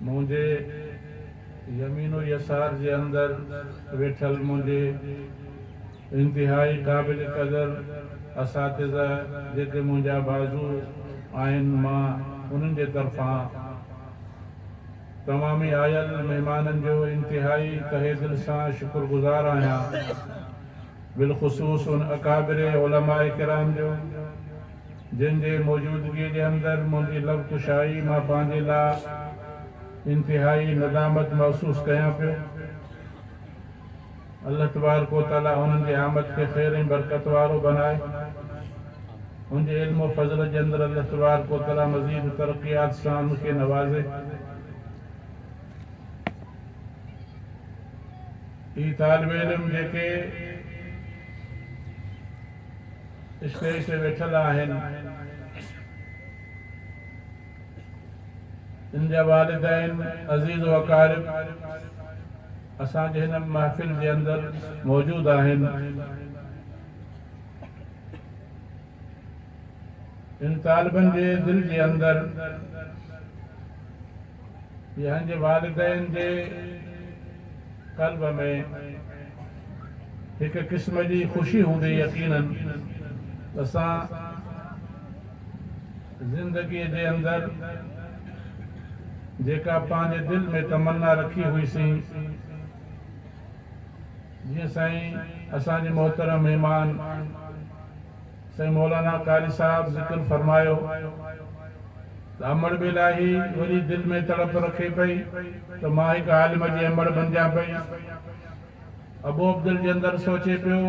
منهنجي يمين و يسار جي اندر ويٺل منهنجي انتهائي قابل قدر اساتذه جيڪي منهنجا بازو آهن مان انهن جي طرفان تمامي آيل مهمانن جو انتهائي تهه دل سان شڪر گذار آهيان بالخصوص ان اڪابر علماء ڪرام جو جن جي موجودگيء جي اندر منهنجي لب ڪشائي مان پنهنجي لاء انتهائي ندامت محسوس ڪيان پيو. الله تبارڪ و تعاليٰ انهن جي آمد کي خير ۽ برڪت وارو بنائي. ان جي علم و فضل جي اندر الله تبارڪ و تعاليٰ مزيد ترقيات سان ان کي نوازي. اهي طالب علم جيڪي. اسٽيج تي ويٺل آهن ان جا والدين عزيز و اقارب اسان جي هن محفل جي اندر موجود آهن ان طالبن جي دل جي اندر جنهنجي والدين جي قلب ۾ هڪ قسم جي خوشي هوندي يقينن اسان زندگي جي اندر جيڪا پنهنجي دل ۾ تمنا رکي هئي سين جيئن سائين اسان جي محترم مهمان سائين مولانا قاري صاحب ذڪر فرمايو ته امڙ به لاهي وري دل ۾ تڙپ رکي پئي ته مان هڪ عالم جي امڙ بنجان پئي. ابو عبدالجي اندر سوچي پيو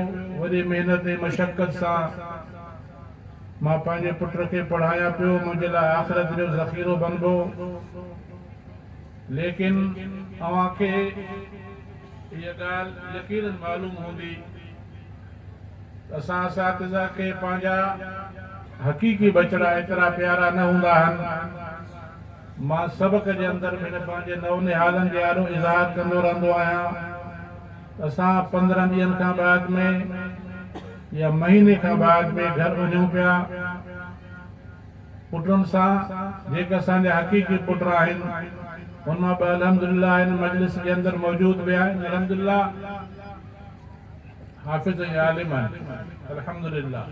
وري محنت ۽ مشقت سان مان پنهنجي پٽ کي پڙهايان پيو منهنجي لاء آخرت جو ذخيرو بنبو. ليڪن اوهان کي اها ڳالهه يقينن معلوم هوندي ته اسان اساتذه کي پنهنجا حقيقي ٻچڙا ايترا پيارا نه هوندا آهن. مان سبق جي اندر پڻ پنهنجي نونهالن جي آڏو اظهار ڪندو رهندو آهيان ته اسان پندرهن ڏينهن کان بعد ۾ يا مهيني کان بعد ۾ گهر وڃون پيا. پٽن سان جيڪي اسان جا حقيقي پٽ آهن ان مان ٻه الحمدلله هن مجلس جي اندر موجود به آهن الحمدلله حافظ ۽ عالم آهن الحمدلله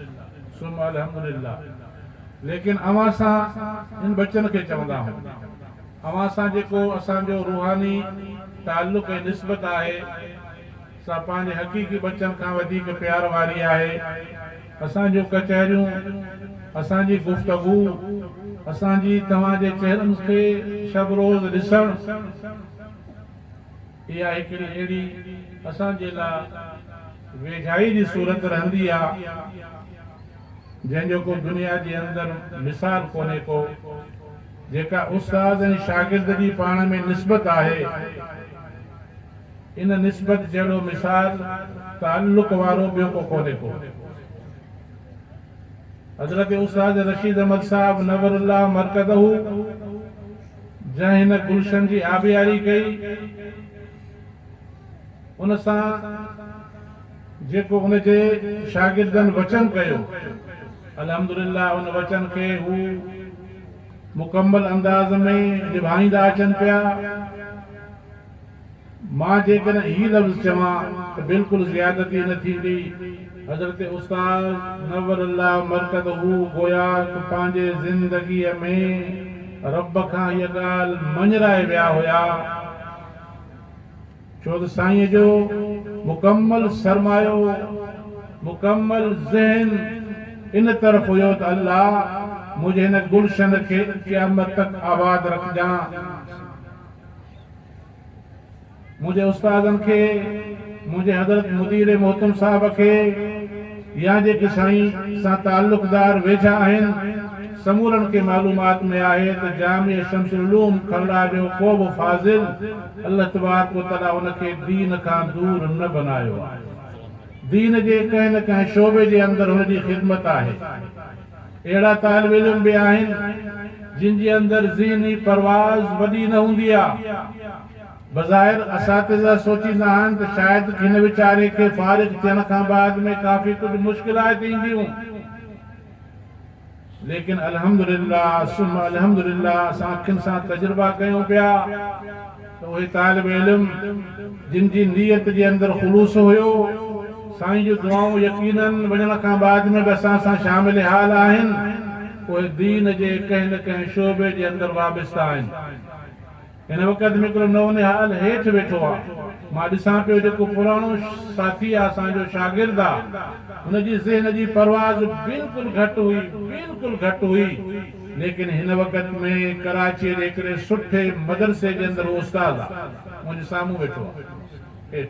ثم الحمدلله ليڪن اوهان سان ان ٻچن کي چوندا آهون اوهان سان جيڪو اسان جو روحاني تعلق ۽ نسبت آهي سا پنهنجي حقيقي ٻچن کان وڌيڪ پيار واري آهي اسان جون ڪچهريون، اسان جي گفتگو، اسان جي توهان جي چهرن کي شب روز ڏسڻ، اها هڪڙي اهڙي اسان جي لاء ويجهائي جي صورت رهندي آ، جنهن جو ڪو دنيا جي اندر مثال ڪونهي ڪو، جيڪا استاد ۽ شاگرد جي پاڻ ۾ نسبت آهي. ان نسبت جهڙو مثال تعلق وارو ٻيو ڪو ڪونهي ڪو. حضرت استاد رشيد احمد صاحب نور الله مرقده جنهن هن گلشن جي آبياري ڪئي ان سان جيڪو ان جي شاگردن وچن ڪيو الحمدلله ان وچن کي هو مڪمل انداز ۾ نڀائيندا اچن پيا. مان جيڪڏهن هي لفظ چوان ته بلڪل زيادتي نه ٿيندي؟ حضرت استاد نور الله مرقده گويا ته پنهنجي زندگيء ۾ رب کان هيء ڳالهه مڃرائي ويا هيا، ڇو ته سائينء جو مڪمل سرمايو، مڪمل ذهن ان طرف هيو ته الله منهنجي هن گلشن کي قيامت تڪ آباد رکجان. منهنجي استادن کي، منهنجي حضرت مدير محتم صاحب کي يا جيڪي سائين سان تعلقدار ويجها آهن، سمورن کي معلومات ۾ آهي ته جامع شمس العلوم کلڙا جو ڪو به فاضل الله تبارڪ و تعالي ان کي دين کان دور نه بنايو آهي. دين جي ڪنهن نه ڪنهن شعبي جي اندر هن جي خدمت آهي. اهڙا طالب علم به آهن جن جي اندر ذهني پرواز وڏي نه هوندي آ. بظاهر اساتذه سوچيندا آهن ته شايد هن ويچاري کي فارغ ٿيڻ کان بعد ۾ ڪافي ڪجهه مشڪلات اينديون. ليڪن الحمدلله ثم الحمدلله اسان اکين سان تجربا ڪيون پيا. ته اهي طالب علم جن جي نيت جي اندر خلوص هيو، سائين جون دعائون يقينن وڃڻ کان بعد ۾ به اسان سان شامل حال آهن، اهي دين جي ڪنهن نه ڪنهن شعبي جي اندر وابسته آهن. هن وقت ۾ هڪڙو نئون نهال هيٺ ويٺو آ، مان ڏسان پيو جيڪو پراڻو ساٿي آ اسان جو شاگرد آ، هن جي ذهن جي پرواز بلڪل گهٽ هئي، بلڪل گهٽ هئي. ليڪن هن وقت ۾ ڪراچيء جي هڪڙي سٺي مدرسي جي اندر هو استاد آ. منهنجي سامهون ويٺو آ. هيٺ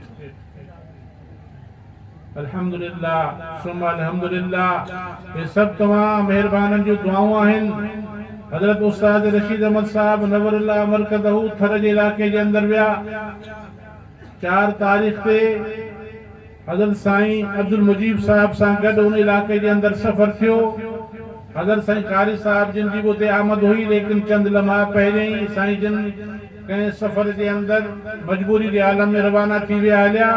الحمدلله ثم الحمدلله هي سڀ توهان مهربانن جون دعائون آهن. حضرت استاد رشيد احمد صاحب نور الله مرقده ٿر جي علائقي جي اندر ويا. چار تاريخ تي حضرت سائين عبدالمجيب صاحب سان گڏ ان علاقي جي اندر سفر ٿيو. حضرت سائين قاري صاحب جن جي به اتي آمد هئي ليڪن چند لمحا پهرين ئي سائين جن ڪنهن سفر جي اندر مجبوري جي عالم ۾ روانا ٿي ويا هليا.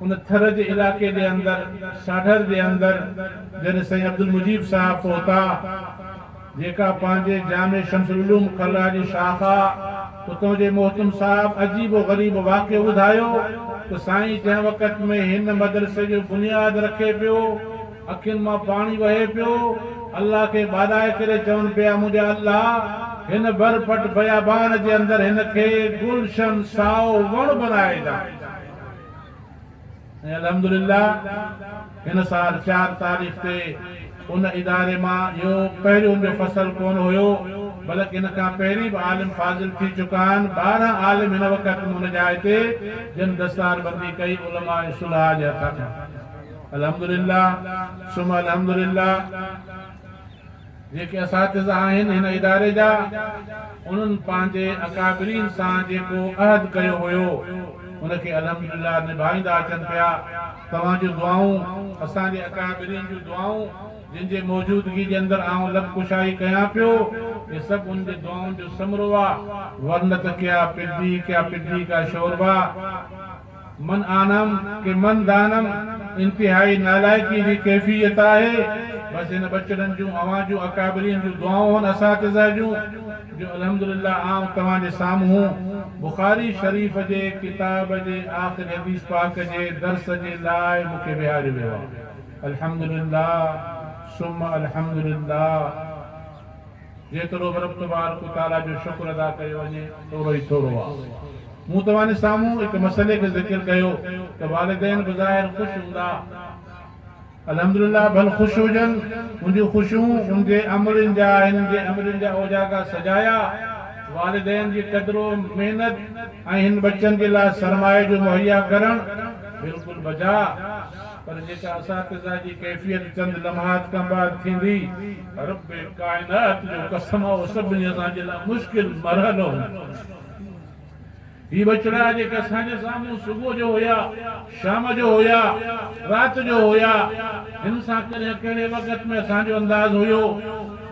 ان ٿر جي علائقي جي اندر ساڍر جي اندر جڏهن سائين عبدالمجيد صاحب پهتا جيڪا پنهنجي جامع شمس العلوم ڪلا جي شاخ آ اتو جي مهتم صاحب عجيب و غريب واقعو ٻڌايو ته سائين جنهن وقت ۾ هن مدرسي جو بنياد رکي پيو اکين مان پاڻي وهي پيو الله کي ٻاڏائي ڪري چون پيا منهنجا الله هن ڀر پٽ بيابان جي اندر هن کي گلشن سائو وڻ بنائي ڏا. ۽ الحمدلله هن سال چار تاريخ تي ان اداري مان اهو پهريون جو فصل ڪونه هيو بلڪ ان کان پهرين به عالم فاضل ٿي چڪا آهن ٻارهن عالم هن وقت م ان جاء تي جن دستار بندي ڪئي علماء صلحاء جي هٿ کان الحمدلله ثم الحمدلله. جيڪي اساتذا آهن هن اداري جا، انهن پنهنجي اڪابرين سان جيڪو عهد ڪيو هيو، ان کي الحمدلله نڀائيندا اچن پيا. توهان جون دعائون، اسان جي اڪابرين جون دعائون، جن جي موجودگي جي اندر آئون لب ڪشائي ڪيان پيو، اهي سڀ انهن جي دعائن جو ثمرو آ، ورنه ته ڪيا پڊي ڪيا پڊي ڪا شوربا. من آنم ڪي من دانم انتهائي نالائقي جي ڪيفيت آهي بس هن ٻچڙن جون اوهان جون اڪابرين جون دعائون هن اساتذه جون جو الحمدلله آئون توهان جي سامهون بخاري شريف جي ڪتاب جي آخري حديث پاڪ جي درس جي لاء مون کي ويهاريو ويو آهي الحمدلله ثم الحمدلله. جيترو به رب تبارڪ و تعاليٰ جو شڪر ادا ڪيو وڃي ٿورو ئي ٿورو آ. مون توهان سامهون هڪ مسئلي کي ذڪر ڪيو ته والدين بظاهر خوش هوندا الحمدلله ڀل خوش هجن ان جون خوشيون ان جي امڙين جا هن جي امڙين جا اوجاڳا سجايا والدين جي قدر و محنت ۽ هن ٻچن جي لاء سرمايي جو مهيا ڪرڻ بلڪل بجا پر جيڪا اساتذه جي ڪيفيت چند لمحات کان بعد ٿيندي رب ڪائنات جو قسم اهو سڀني اسان جي لاء مشڪل مرحلو هوندو. هي ٻچڙا جيڪي اسان جي سامهون صبح جو هيا، شام جو هيا، رات جو هيا، هن سان ڪڏهن ڪهڙي وقت ۾ اسان جو انداز هيو،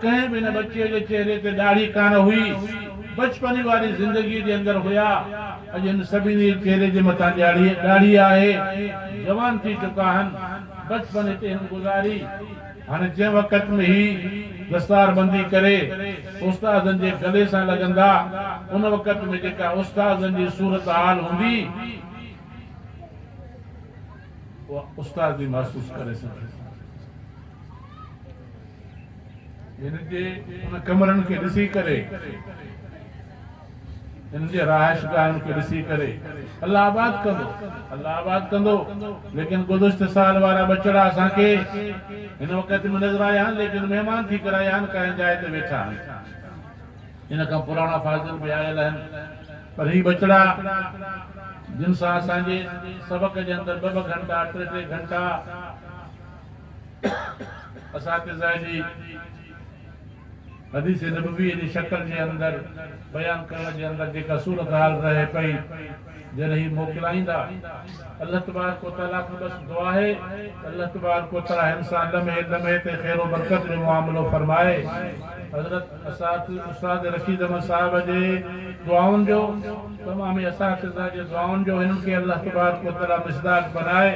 ڪنهن به هن ٻچي جي چهري تي ڏاڙهي ڪانه هئي، بچپني واري زندگي جي اندر هيا، اڄ هن سڀني جي چهري جي مٿان ڏاڙهي آهي، جوان ٿي چڪا آهن، بچپن هتي هن گذاري. هاڻي جنهن وقت ۾ هي دستار بندي ڪري استادن جي گلي سان لڳندا ان وقت ۾ جيڪا استادن جي صورتحال هوندي اها استاد ئي محسوس ڪري سگهي ٿو. هن جي ان ڪمرن کي ڏسي ڪري. هن جي رهائشگاهن کي ڏسي ڪري الله آباد ڪندو، الله آباد ڪندو، ليڪن گذشته سال وارا ٻچڙا اسان کي هن وقت به نظر آيا آهن ليڪن مهمان ٿي ڪري آيا آهن ڪنهن جاء تي ويٺا آهن. ان کان پراڻا فاضل به آيل آهن پر هي ٻچڙا جن سان اسان جي سبق جي اندر ٻه ٻه گهنٽا ٽي ٽي گهنٽا اساتذه جي حديث نبويء جي شڪل جي اندر بيان ڪرڻ جي اندر جيڪا صورتحال رهي پئي جڏهن هي موڪلائيندا الله تبارڪ و تعاليٰ کان بس دعا آهي ته الله تبارڪ و تعاليٰ هن سان لمحي لمحي تي خير و برڪت جو معاملو فرمائي حضرت اساتذ استاد رشيد احمد صاحب جي دعائن جو تمام اساتذه جي دعائن جو هنن کي الله تبارڪ و تعاليٰ مصداق بنائي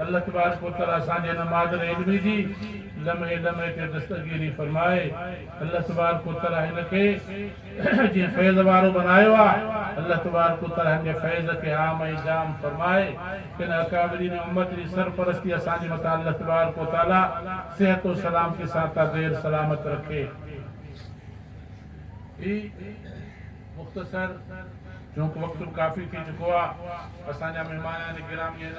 الله تبارڪ و تعاليٰ اسان جي هن مادر علمي جي لمحي لمحي تي دستگيري فرمائي الله تبارڪ و تعالي هن کي جيئن فيض وارو بنايو آ الله تبارڪ و تعالي هن جي فيض کي عام ۽ جام فرمائي ان اڪابرين امت جي سرپرستي اسان جي مٿان الله تبارڪ و تعالي صحت و سلامتي سان تا دير سلامت رکي هي مختصر چونڪ وقت به ڪافي ٿي چڪو آ اسان جا مهمانان گرامي هن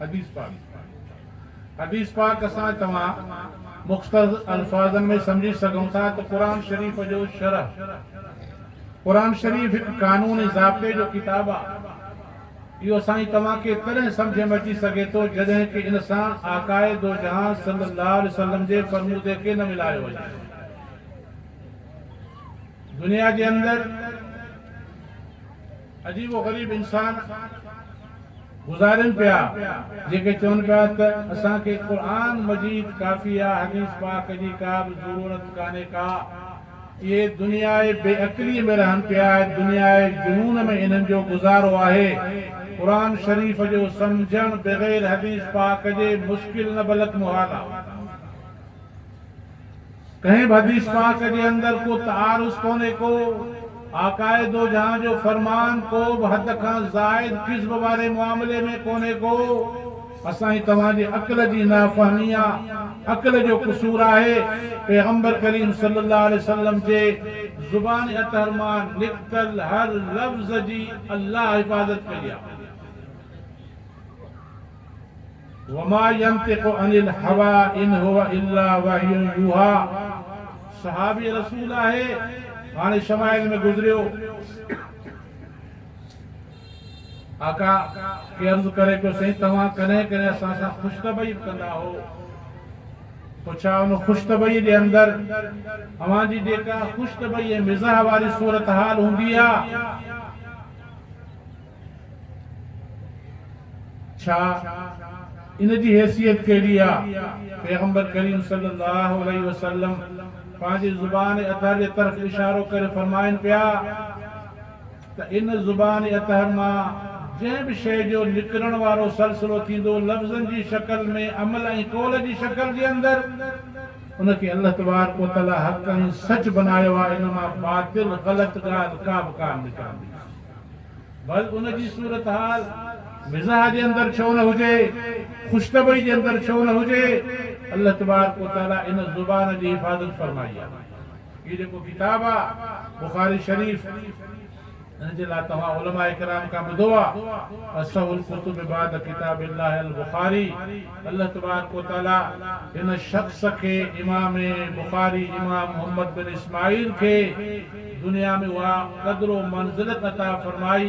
حديث پاڪ حديث پاڪ اسان توهان مختصر الفاظن ۾ سمجهي سگهون ٿا ته قرآن شريف جو شرح قرآن شريف هڪ قانون ۽ ضابطي جو ڪتاب آ اهو اسان توهان کي تڏهن سمجهه ۾ اچي سگهي ٿو جڏهن ڪي ان سان آقاء دوجهان صلي الله عليه وسلم جي فرمودي کي نه ملايو وڃي دنيا جي اندر عجيب و غريب انسان گذارين پيا جيڪي چون پيا ته اسان کي قرآن مجيد ڪافي آ حديث پاڪ جي ڪا به ضرورت ڪانهي ڪا اهي دنياء بي عقلي ۾ رهن پيا دنياء جنون ۾ انهن جو گذارو آهي قرآن شريف جو سمجهڻ بغير حديث پاڪ جي مشڪل نه بلڪ محال آ. ڪنهن به حديث پاڪ جي اندر ڪو تعارض ڪونهي ڪو آقائي دوجهان جو فرمان ڪو به حد کان زائد ڪذب واري معاملي ۾ ڪونهي ڪو اسان جي توهان جي عقل جي نافهمي آ عقل جو قصور آهي پيغمبر ڪريم صلي الله عليه وسلم جي زبان اطهر مان نڪتل هر لفظ جي الله حفاظت ڪئي آ. وما ينطق عن الهويٰ ان هو الا وحي يوحيٰ صحابي رسول آهي هاڻي شمائل ۾ گذريو آقا کي عرض ڪري پيو سائين توهان ڪڏهن ڪڏهن اسان سان خوش طبعي به ڪندا هئو پوء ڇا ان خوش طبعي جي اندر اوهان جي جيڪا خوش طبعي ۽ مزاح واري صورتحال هوندي آ ڇا ان جي حيثيت ڪهڙي آ؟ پيغمبر ڪريم صلي الله عليه وسلم پنهنجي زبان اطهر جي طرف اشارو ڪري فرمائن پيا ته ان زبان اطهر مان جنهن به شيء جو نڪرڻ وارو سلسلو ٿيندو لفظن جي شڪل ۾ عمل ۽ قول جي شڪل جي اندر، ان کي الله تبارڪ و تعالي حق ۽ سچ بنايو آ، ان مان باطل، غلط، ڳالهه ڪابه ڪانه نڪرندي. ڀل ان جي صورتحال مزاح جي اندر ڇو نه هجي، خوش طبعي جي اندر ڇو نه هجي، الله تبارڪ و تعالي ان زبان جي حفاظت فرمائي آ. هي جيڪو ڪتاب آ بخاري شريف ان جي لا توهان علماء ڪرام کان ٻڌو آ، اصح الڪتب بعد ڪتاب الله البخاري. الله تبارڪ و تعاليٰ هن شخص کي امام بخاري امام محمد بن اسماعيل کي دنيا ۾ اها قدر و منزلت عطا فرمائي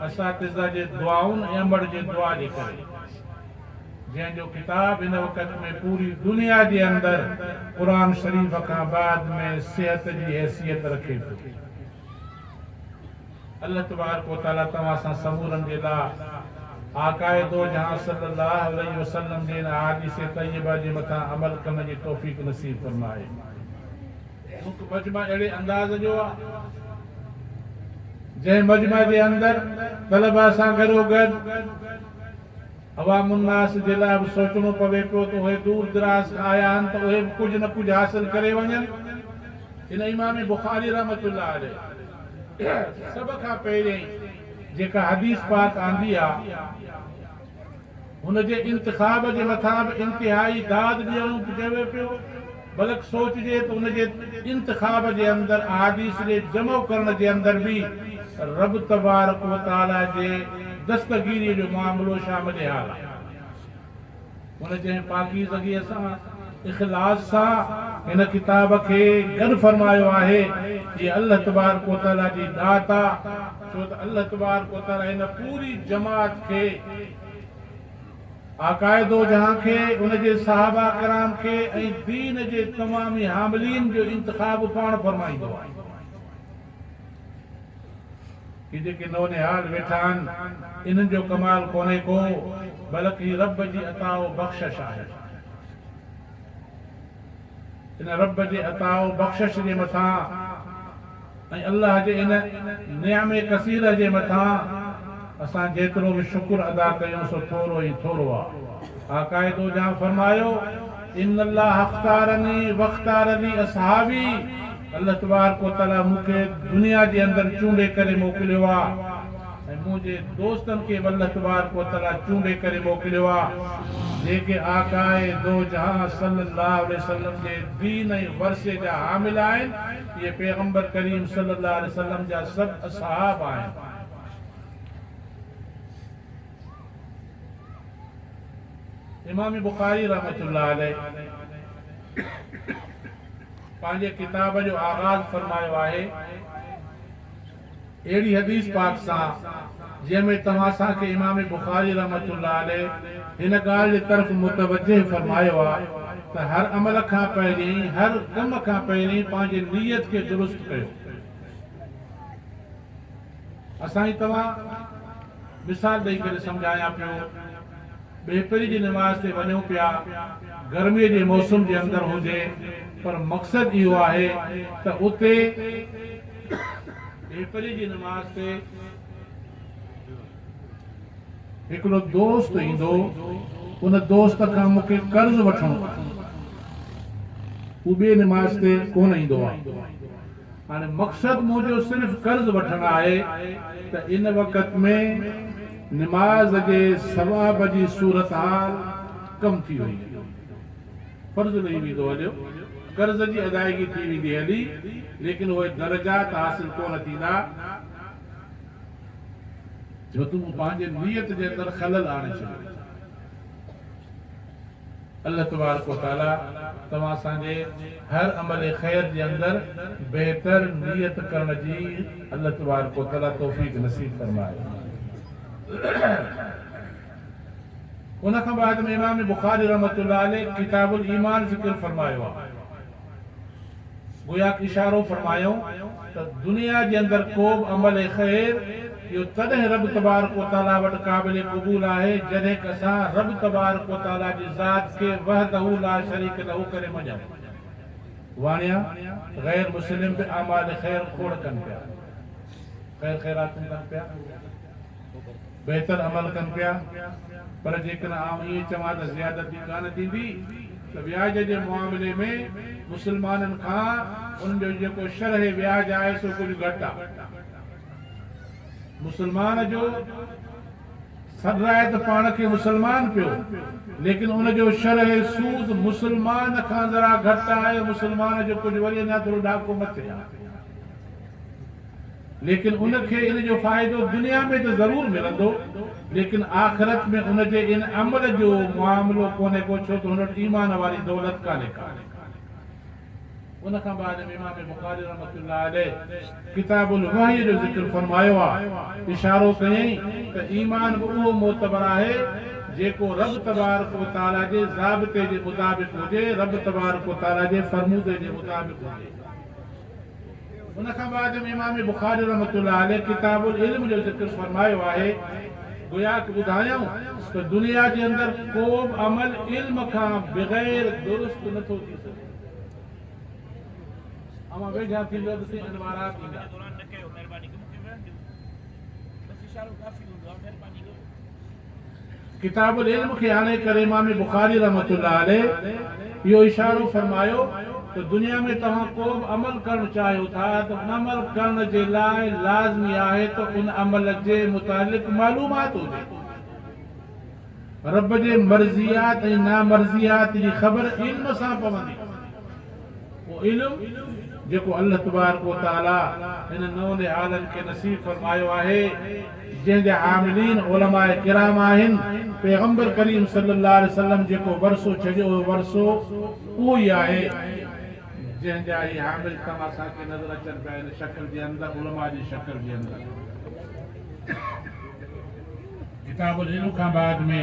اساتذه جي دعائن ۽ امڙ جي دعا جي ڪري جنهن جو ڪتاب هن وقت ۾ پوري دنيا جي اندر قرآن شريف کان بعد ۾ صحت جي حيثيت رکي ٿو. الله تبارڪ و تعالي توهان اسان سمورن جي لاء آقاء دوجهان صلي الله عليه وسلم جي ان احاديث طيبه جي مٿان عمل ڪرڻ جي توفيق نصيب فرمائي. هڪ مجمع اهڙي انداز جو آهي جنهن مجمع جي اندر طلباء سان گڏوگڏ. عوام الناس جي لاء به سوچڻو پوي پيو ته اهي دور دراز کان آيا آهن ته اهي به ڪجهه نه ڪجهه حاصل ڪري وڃن. ان امام بخاري رحمة الله عليه سڀ کان پهرين جيڪا حديث پاڪ آندي آ ان جي انتخاب جي مٿان به انتهائي داد ڏيڻو چوي پيو. بلڪ سوچجي ته ان جي انتخاب جي اندر احاديث جي جمع ڪرڻ جي اندر به رب تبارڪ و تعالي جي دستگيري جو معاملو شامل حال آهي. هن جنهن پاڪيزگي سان، اخلاص سان هن ڪتاب کي گڏ فرمايو آهي، هيء الله تبارڪ و تعالي جي ڏات آ، ڇو ته الله تبارڪ و تعالي هن پوري جماعت کي، آقاء دوجهان کي، ان جي صحابه ڪرام کي ۽ دين جي تمام ئي حاملين جو انتخاب پاڻ فرمائيندو آهي. هي جيڪي نونهال ويٺا آهن، انهن جو ڪمال ڪونهي ڪو، بلڪ هي رب جي عطاء و بخشش آهي. ان رب جي عطاء و بخشش جي مٿان ۽ الله جي ان نعم ڪثيره جي مٿان اسان جيترو به شڪر ادا ڪيون سو ٿورو ئي ٿورو آ. آقاء دو جهان فرمايو، ان الله اختارني و اختار لي اصحابي، الله تبارڪ و تعاليٰ مون کي دنيا جي اندر چونڊي ڪري موڪليو آ. ۽ منهنجي دوستن کي به الله تبارڪ و تعاليٰ چونڊي ڪري موڪليو آهي، جيڪي آقاء دوجهان صلّي اللّٰه عليه وسلّم جي دين ۽ ورثي جا حامل آهن، اهي پيغمبر ڪريم صلّي اللّٰه عليه وسلّم جا سڀ اصحاب آهن. امام بخاري رحمة الله عليه پنهنجي ڪتاب جو آغاز فرمايو آهي. اهڙي حديث پاڪ سان جنهن ۾ توهان اسان کي امام بخاري رحمة الله عليه هن ڳالهه جي طرف متوجه فرمايو آ ته هر عمل کان پهرين هر ڪم کان پهرين پنهنجي نيت کي درست ڪيو اسان هي توهان مثال ڏئي ڪري سمجهايان پيو ٻهپري جي نماز تي وڃون پيا گرمي جي موسم جي اندر هجي پر مقصد اهو آهي ته اتي ڏيپري جي نماز تي هڪڙو دوست ايندو، ان دوست کان مون کي قرض وٺڻو آهي. هو ٻي نماز تي ڪونه ايندو آهي. هاڻي مقصد منهنجو صرف قرض وٺڻ آهي ته ان وقت ۾ نماز جي ثواب جي صورتحال ڪم ٿي وئي. فرض لھي ويندو ھليو، قرض جي ادائگي ٿي ويندي ھلي، ليڪن اھي درجات حاصل ڪونه ٿيندا. جو تون پنھنجي نيت جي اندر خلل آڻي ڇڏيو. الله تبارڪ و تعاليٰ توھان سان جي ھر عمل خير جي اندر بهتر نيت ڪرڻ جي الله تبارڪ و تعاليٰ توفيق نصيب فرمائي. ان کان بعد ۾ امام بخاري رحمة الله عليه ڪتاب الايمان ذڪر فرمايو آهي. گوياڪ اشارو فرمايائون ته دنيا جي اندر ڪوبه عمل خير اهو تڏهن رب تبارڪ و تعالي وٽ قابل قبول آهي جڏهنڪ اسان رب تبارڪ و تعالي جي ذات کي وحده لاشريڪ له ڪري مڃون. واڻيا، غير مسلم به اعمال خير کوڙ ڪن پيا. خير خيراتون ڪن پيا. بهتر عمل ڪن پيا پر جيڪڏهن آئون ائين چوان ته زيادتي ڪانه ٿيندي ته وياج جي معاملي ۾ مسلمانن کان ان جو جيڪو شرح وياج آهي سو ڪجهه گهٽ آهي. مسلمان جو سڏ آهي ته پاڻ کي مسلمان پيو ليڪن ان جو شرح سود مسلمان کان ذرا گهٽ آهي، مسلمان جو ڪجهه وري اڃا ٿورو ڏاڪو مٿي آهي. ليڪن ان کي ان جو فائدو دنيا ۾ ته ضرور ملندو ليڪن آخرت ۾ ان جي ان عمل جو معاملو ڪونهي ڪو ڇو ته هن وٽ ايمان واري دولت ڪانهي ڪا. ان کان بعد ۾ امام بخاري رحمة الله عليه ڪتاب الوحي جو ذڪر فرمايو آ، اشارو ڪيائين ته ايمان به اهو معتبر آهي جيڪو رب تبارڪ و تعالي جي ضابطي جي مطابق هجي، رب تبارڪ و تعالي جي فرمودي جي مطابق هجي. ان کان بعد ۾ امام بخاري رحمة الله عليه ڪتاب العلم جو ذڪر فرمايو آهي، گويا ته ٻڌايائون ته دنيا جي اندر ڪوبه عمل علم کان بغير درست نه ٿو ٿي سگهي. اوهان ويجها ٿيندو ته سين انوارات ايندا. ڪتاب العلم کي آڻي ڪري امام بخاري رحمة الله عليه اهو اشارو فرمايو ته دنيا ۾ توهان ڪو به عمل ڪرڻ چاهيو ٿا ته ان عمل ڪرڻ جي لاء لازمي آهي ته ان عمل جي متعلق معلومات هجي. رب جي مرضيات ۽ نامرضيات جي خبر علم سان پوندي. اهو علم جيڪو الله تبارڪ و تعالي هنن نون نهالن کي نصيب فرمايو آهي، جنهن جا حاملين علماء ڪرام آهن، پيغمبر ڪريم صلي الله عليه وسلم جيڪو ورثو ڇڏيو اهو ورثو اهو ئي آهي، جنهن جا هي حامل توهان اسان کي نظر اچن پيا هن شڪل جي اندر علماء جي شڪل جي اندر. ڪتاب العلم کان بعد ۾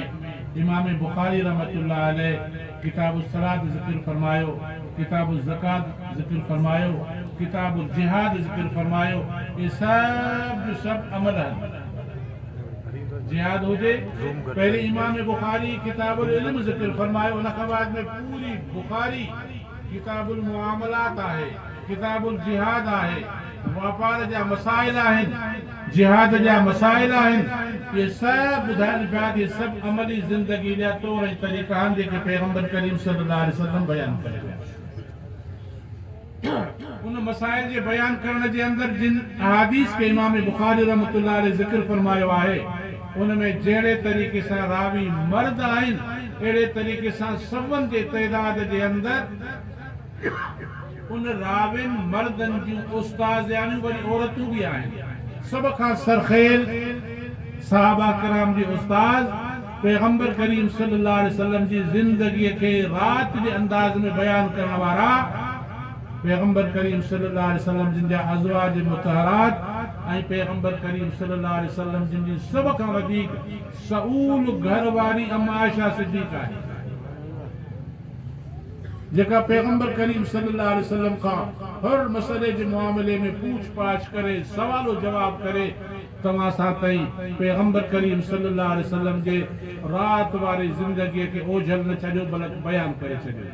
امام بخاري رحمة الله عليه ڪتاب الصلاة ذڪر فرمايو، ڪتاب الزڪوة ذڪر فرمايو، ڪتاب الجهاد ذڪر فرمايو، اهي سڀ جو سڀ عمل هن جهاد هجي پهرين امام بخاري ڪتاب العلم ذڪر فرمايو ان کان بعد ۾ پوري بخاري. ڪتاب المعاملات آهي، ڪتاب الجهاد آهي، واپار جا مسائل آهن، جهاد جا مسائل آهن، اهي سڀ ٻڌائڻ پيا ته اهي سڀ عملي زندگي جا طور ۽ طريقا آهن جيڪي پيغمبر ڪريم صلي الله عليه وسلم بيان ڪري ويا. ان مسائل جي بيان ڪرڻ جي اندر جن احاديث کي امام بخاري رحمة الله عليه ذڪر فرمايو آهي، ان ۾ جهڙي طريقي سان راوي مرد آهن، اهڙي طريقي سان سون جي تعداد جي اندر ان راوين مردن جون استاذياڻيون وري عورتون به آهن. سڀ کان سرخيل صحابه ڪرام جي استاذ پيغمبر ڪريم صلي الله عليه وسلم جي زندگيء کي رات جي انداز ۾ بيان ڪرڻ وارا، پيغمبر ڪريم صلي الله عليه وسلم جن جا ازواج مطهرات ۽ پيغمبر ڪريم صلي الله عليه وسلم جن جي سڀ کان وڌيڪ سئول گهر واري ام عائشه صديقه آهي جيڪا پيغمبر ڪريم صلي الله عليه وسلم کان هر مسئلي جي معاملي ۾ پوڇ پاڇ ڪري سوال و جواب ڪري توهان سان تائين پيغمبر ڪريم صلي الله عليه وسلم جي رات واري زندگي کي اوجهل نه ڇڏيو بلڪ بيان ڪري ڇڏيو.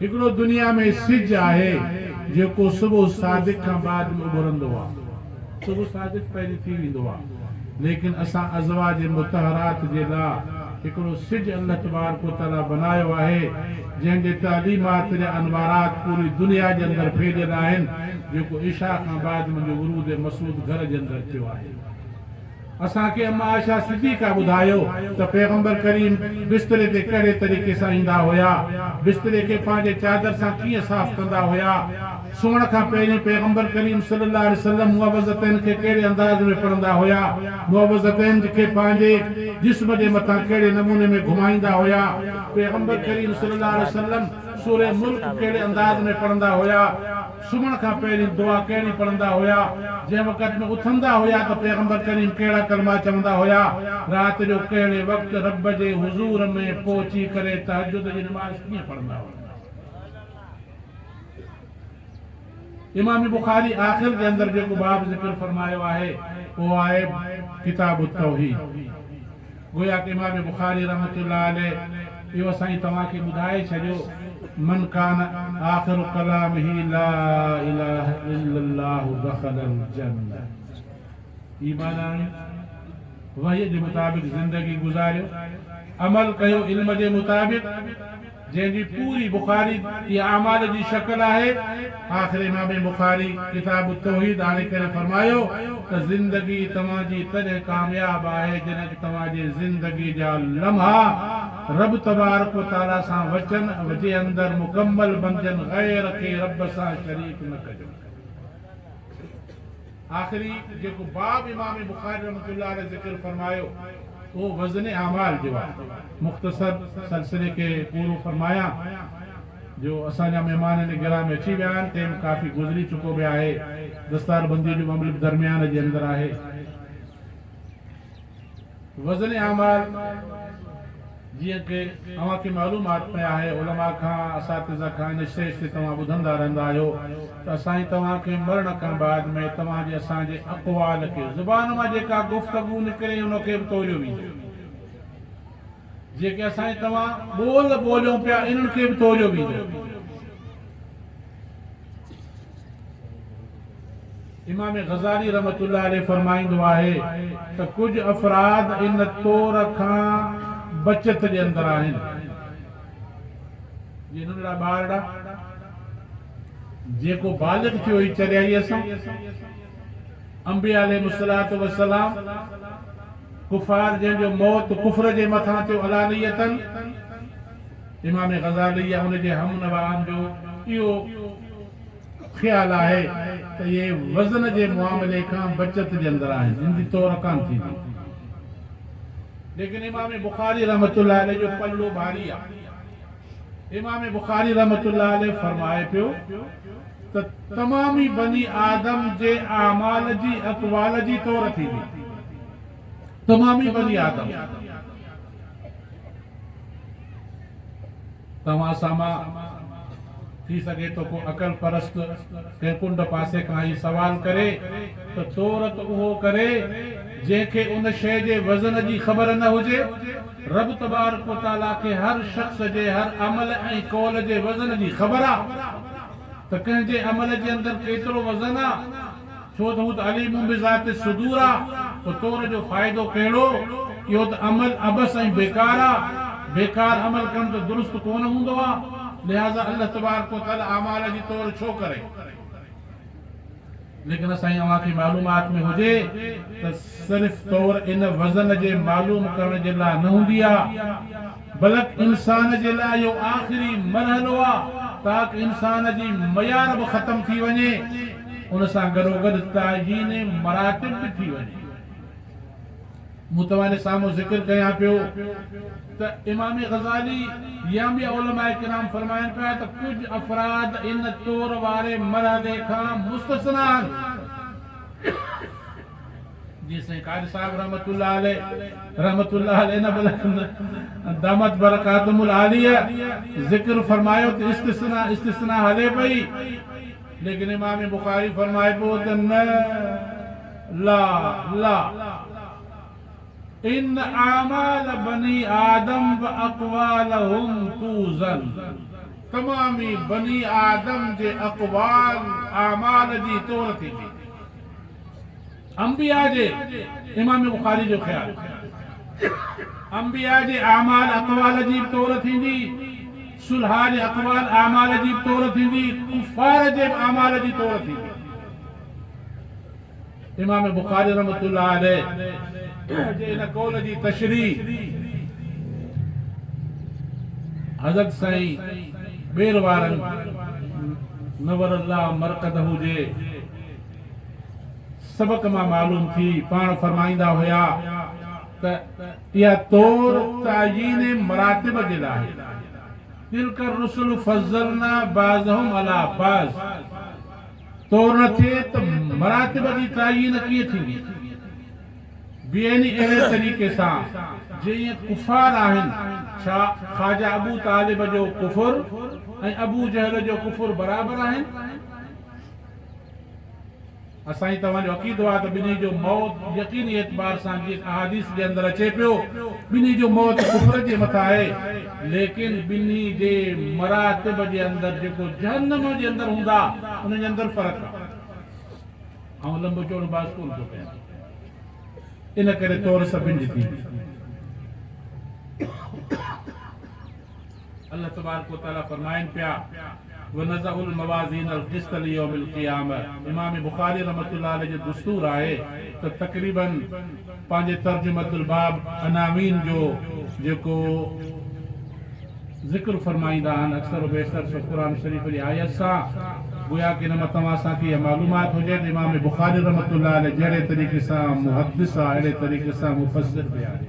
هڪڙو دنيا ۾ سج آهي جيڪو صبح صادق کان بعد ۾ اڀرندو آ صبح صادق پهرين ٿي ويندو آ ليڪن اسان ازواج مطهرات جي لا هڪڙو سج الله تبارڪ و تعالي بنايو آهي جنهن جي تعليمات جا انوارات پوري دنيا جي اندر ڦهليل آهن جيڪو عشاء کان بعد منهنجو ورود مسعود گهر جي اندر ٿيو آهي. اسان کي اما عائشه صديقه ٻڌايو ته پيغمبر ڪريم بستري تي ڪهڙي طريقي سان ايندا هيا، بستري کي پنهنجي چادر سان ڪيئن صاف ڪندا هيا، سمهڻ کان پهرين پيغمبر ڪريم صلي الله عليه وسلم معوذتين کي ڪهڙي انداز ۾ پڙهندا هيا، معوذتين کي پنهنجي جسم جي مٿان ڪهڙي نموني ۾ گهمائيندا هيا، پيغمبر ڪريم صلي الله عليه وسلم سوره ملڪ ڪهڙي انداز ۾ پڙهندا هيا. سمهڻ کان پهرين دعا ڪهڙي پڙهندا هيا؟ جنهن وقت ۾ اٿندا هيا ته پيغمبر ڪريم ڪهڙا ڪلما چوندا هيا؟ رات جو ڪهڙي وقت رب جي حضور ۾ پهچي ڪري تهجد جي نماز ڪيئن پڙهندا هيا؟ امام بخاري آخر جي اندر جيڪو باب ذڪر فرمايو آهي اهو آهي ڪتاب التوحيد. گويا ته امام بخاري رحمة الله عليه اهو سائين توهان کي ٻڌائي ڇڏيو، من ڪان آخر ڪلامه لا اله الا الله دخل الجنة ايمان آڻيو، وحي جي مطابق زندگي گذاريو، عمل ڪيو، علم جي مطابق. جنهن جي پوري بخاري جي اعمال جي شڪل آهي. آخر امام بخاري ڪتاب التوحيد آڻي ڪري فرمايو ته زندگي توهان جي تڏهن ڪامياب آهي جڏهن ته توهان جي زندگي جا لمحا رب تبارڪ و تعالي سان وچن جي اندر مڪمل بنجن غير کي رب سان شريڪ نه ڪجو. آخري جيڪو باب امام بخاري رحمة الله عليه ذڪر فرمايو اهو وزن اعمال جو آهي. مختصر سلسلي کي پورو فرمايان جو اسان جا مهمان هن گرهه ۾ اچي ويا آهن ٽيم ڪافي گذري چڪو به آهي دستاربندي جو به عمل به درميان جي اندر آهي. وزن اعمال، جيئن ڪه اوهان کي معلوم آت ۾ آهي، علماء کان، اساتذه کان، ان شيء تي توهان ٻڌندا رهندا آهيو ته اسان توهان کي مرڻ کان بعد ۾ توهان جي اسان جي اقوال کي، زبان مان جيڪا گفتگو نڪري ان کي به توليو ويندو. جيڪي اسان توهان ٻول ٻوليون پيا انهن کي به توليو ويندو. امام غزالي رحمة الله عليه فرمائيندو آهي ته ڪجهه افراد ان طور کان بچت جي اندر آهن جيئن ننڍڙا ٻارڙا جيڪو بالغ ٿيو هي چريائي اسان انبيا عليهم الصلوة والسلام ڪفار جن جو موت ڪفر جي مٿان ٿيو علانيتن امام غزالي يا ان جي هم نوعن جو اهو خيال آهي ته اهي وزن جي معاملي کان بچت جي اندر آهن، ان جي تور ڪانه ٿيندي. ليڪن امام بخاري رحمة الله عليه جو پلو ڀاري آهي. امام بخاري رحمة الله عليه فرمائي پيو ته تمامي بني آدم جي اعمال جي اقوال جي تور ٿيندي. تمامي بني آدم. توهان سامان ٿي سگهي ٿو ڪو عقل پرست ڪنهن ڪنڊ پاسي کان هي سوال ڪري ته تورت اهو ڪري جنهن کي ان شيء جي وزن جي خبر نه هجي. رب تبارڪ و تعاليٰ کي هر شخص جي هر عمل ۽ قول جي وزن جي خبر آ ته ڪنهن جي عمل جي اندر ڪيترو وزن آ. ڇو ته هو ته عليم بذات الصدور آ، پوء تور جو فائدو ڪهڙو؟ اهو ته عمل عبث ۽ بيڪار آ، بيڪار عمل ڪم ته درست ڪونه هوندو آ، لهٰذا الله تبارڪ و تعالي اعمال جي تور ڇو ڪري؟ ليڪن اسان ۽ اوهان کي معلومات ۾ هجي ته صرف تور ان وزن جي معلوم ڪرڻ جي لاء نه هوندي آ، بلڪ انسان جي لاء اهو آخري مرحلو آ تاڪ انسان جي معيار به ختم ٿي وڃي ان سان گڏوگڏ تعيين مراتب به ٿي وڃي مون توهان جي سامهون ذڪر ڪيان پيو ته امام غزالي يا ٻيا علماء ڪرام فرمائن پيا ته ڪجهه افراد ان طور واري مرحلي کان مستثنيٰ آهن جي سائين قاري صاحب رحمت الله عليه رحمت الله عليه نه بلڪه دامت برڪاتهم العاليه ذڪر فرمايو ته استثناء استثناء هلي پئي ليڪن امام بخاري فرمائي پيو ته نه لا لا ان اعمال بني آدم و اقوالهم توزن تمامي بني آدم جي اقوال اعمال جي تور ٿيندي انبياء جي امام بخاري جو خيال انبياء جي اعمال اقوال عجيب طور ٿيندي صلحاء جي اقوال اعمال عجيب طور ٿيندي ڪفار جي به اعمال جي طور ٿيندي امام بخاري رحمت الله عليه جي ان قول جي تشريح حضرت سائين ٻير وارن نور الله مرقده جي سبق مان معلوم ٿي، پاڻ فرمائيندا هيا ته اها طور تعيين مراتب جي لاء آهي، تلک الرسل فضلنا بعضهم علي بعض، طور نه ٿئي ته مراتب جي تعيين ڪيئن ٿيندي؟ به يعني اهڙي طريقي سان جيئن ڪفار آهن، ڇا خواجه ابو طالب جو ڪفر ۽ ابو جهل جو ڪفر برابر آهن؟ اسان جي توهان جو عقيدو آهي ته ٻنهي جو موت يقيني اعتبار سان جيئن احاديث جي اندر اچي پيو ٻنهي جو موت ڪفر جي مٿان آهي ليڪن ٻنهي جي مراتب جي اندر جيڪو جهنم جي اندر هوندا انهن جي اندر فرق آهي آئون لنبو چوڙو باس ڪونه ٿو ڪيان ان ڪري طور سڀن جي ٿيندي الله تبارڪ و تعالي فرمائن پيا، ونضع الموازين القسط ليوم القيامة امام بخاري رحمة الله عليه جو دستور آهي ته تقريباً پنهنجي ترجمة الباب عناوين جو جيڪو ذڪر فرمائيندا آهن اڪثر و بيشتر سو قرآن شريف جي آيت سان گويا ڪه ان مان توهان سان کي اها معلومات هجي ته امام بخاري رحمة الله عليه جهڙي طريقي سان محدث آهي اهڙي طريقي سان مفسر به آهي.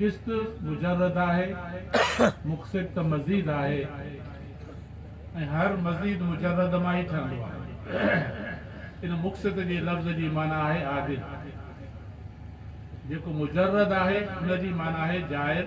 قسط مجرد آهي، مقسط ته مزيد آهي ۽ هر مزيد مجرد مان ئي ٺهندو آهي. ان مقسط جي لفظ جي معنيٰ آهي عادل. جيڪو مجرد آهي ان جي معنيٰ آهي جائر.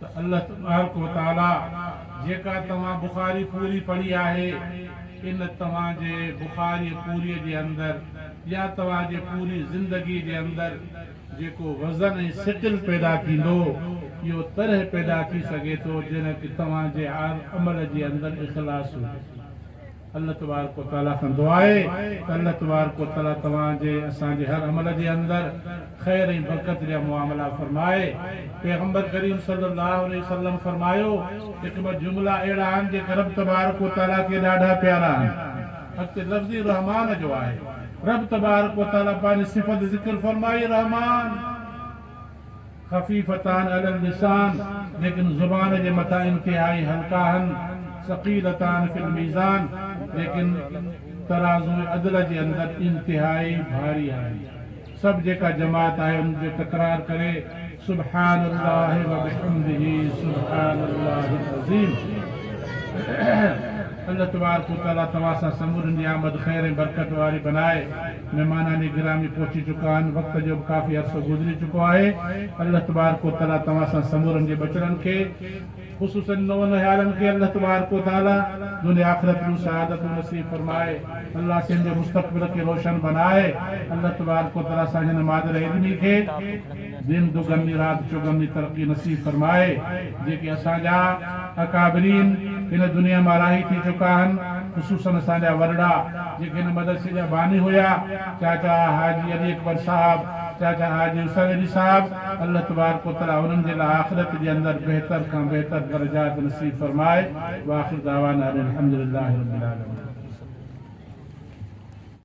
ته الله تبارڪ و تعالي جيڪا توهان بخاري پوري پڙهي آهي ان توهان جي بخاري پوري جي اندر يا توهان جي پوري زندگي جي اندر جيڪو وزن ۽ سٽل پيدا ٿيندو اهو تڏهن پيدا ٿي سگهي ٿو جڏهن ته توهان جي عمل جي اندر اخلاص هجي. الله تبارڪ و تعاليٰ کان دعا آهي ته الله تبارڪ و تعاليٰ توهان جي اسان جي هر عمل جي اندر خير ۽ برڪت جا معاملا فرمائي. پيغمبر ڪريم صلي الله عليه وسلم فرمايو. هڪ ٻه جملا اهڙا آهن جيڪي رب تبارڪ و تعاليٰ کي ڏاڍا پيارا آهن. اڳتي لفظ ئي رحمان جو آهي. رب تبارڪ و تعاليٰ پنهنجي صفت ذڪر فرمائي، رحمان. خفيفتان علي اللسان، ليڪن زبان جي مٿان انتهائي هلڪا آهن، ثقيلتان في الميزان، ليڪن ترازوء عدل جي اندر انتهائي ڀاري آهن. سڀ جيڪا جماعت آهي ان جو تڪرار ڪري، سبحان الله وبحمده سبحان الله العظيم. الله تبارڪ وتعاليٰ توهان سان سمورين جي آمد خير ۽ برڪت واري بنائي. مھمانان گرامي پھچي چڪا آھن، وقت جو به ڪافي عرصو گذري چڪو آھي، الله تبارڪ و تعالي توھان سان سمورن جي ٻچڙن کي خصوصن نونھالن کي الله تبارڪ و تعالي دنيا آخرت ڏو سعادتون نصيب فرمائي، الله سين جي مستقبل کي روشن بنائي، الله تبارڪ و تعالي سان ھن مادر علمي کي. دين دوگمي رات چوگمي ترقي نصيب فرمائي جيڪي اسان جا اڪابرين هن دنيا مان راهي ٿي چڪا آهن خصوصن اسان جا وڏڙا جيڪي هن مدرسي جا باني هيا چاچا حاجي علي اڪبر صاحب چاچا حاجي حسين علي صاحب الله تبارڪ و تعالي انهن جي لاء آخرت جي اندر بهتر کان بهتر درجات نصيب فرمائي واخر دعوانا ان الحمدلله رب العالمين.